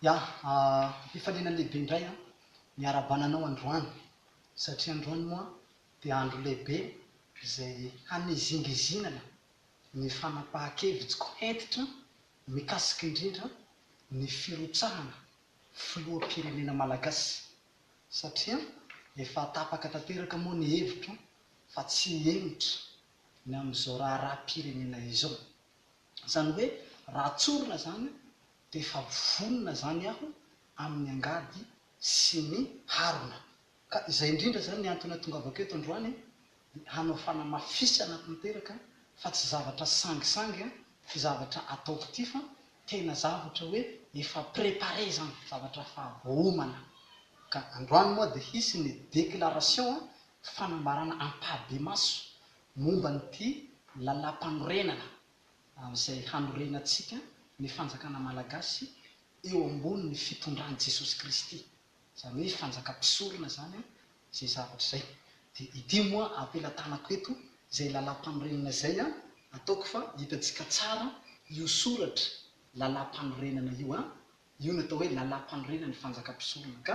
Ya, am-pifaliana lehibe indray an, ny iarahabana anao androany, satria androany moa dia andro lehibe izay hanizingizinana ny fanapahan-kevitsiko hentitra mikasika indrindra ny firotsahana filoham-pirenena malagasy, satria efa tapaka tanteraka moa ny hevitro fa tsy henitra ny amin'izao raharaham-pirenena izao. Izany hoe raha tsorina izany dia efa vonona izany aho amin'ny angady sy ny harona. Ka izay indrindra izany ny antony ahatongavako eto androany, dia hanao fanamafisana tanteraka fa tsy zavatra sangisangy ity zavatra ataoko ity fa tena zavatra hoe efa préparé izany, zavatra efa homana. Ka androany moa dia hisy ny déclaration fanambarana ampahibemaso momba an'ity Lalàmpanorenana izay hanorenantsika ny Fanjakana Malagasy eo ambonin'ny fitondran'i Jesosy Kristy, izany hoe Fanjakam-pisorona izany izay zavatra izay. Dia ity moa ampelatanako eto izay Lalàmpanorenana izay ataoko fa hitantsika tsara io soratra Lalàmpanorenana io, io no atao hoe Lalàmpanorenan'ny Fanjakam-pisorona ka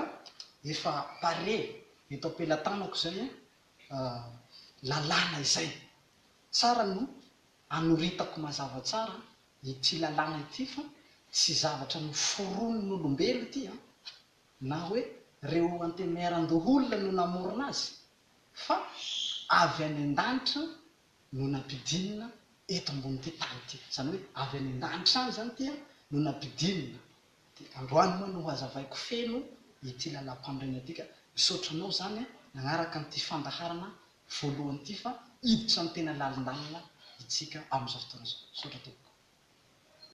efa pare eto ampelatanako izay lalàna izay. Tsara no anoritako mazava tsara ity lalàna ity fa tsy zavatra noforonin'olombelo ity an, na hoe reo antenimieran-doholona no namorona azy fa avy any an-danitra no nampidinina eto ambonin'ity tany ity. Izany hoe avy any an-danitra any izany ity no nampidinina. Dia androany moa no hazavaiko feno ity lalam-panorenana ity ka. Misaotra anao izany nanaraka an'ity fandaharana voalohany ity fa hiditra ny tena lalindalina itsika amin'izao fotoana izao. Misaotra tompoko.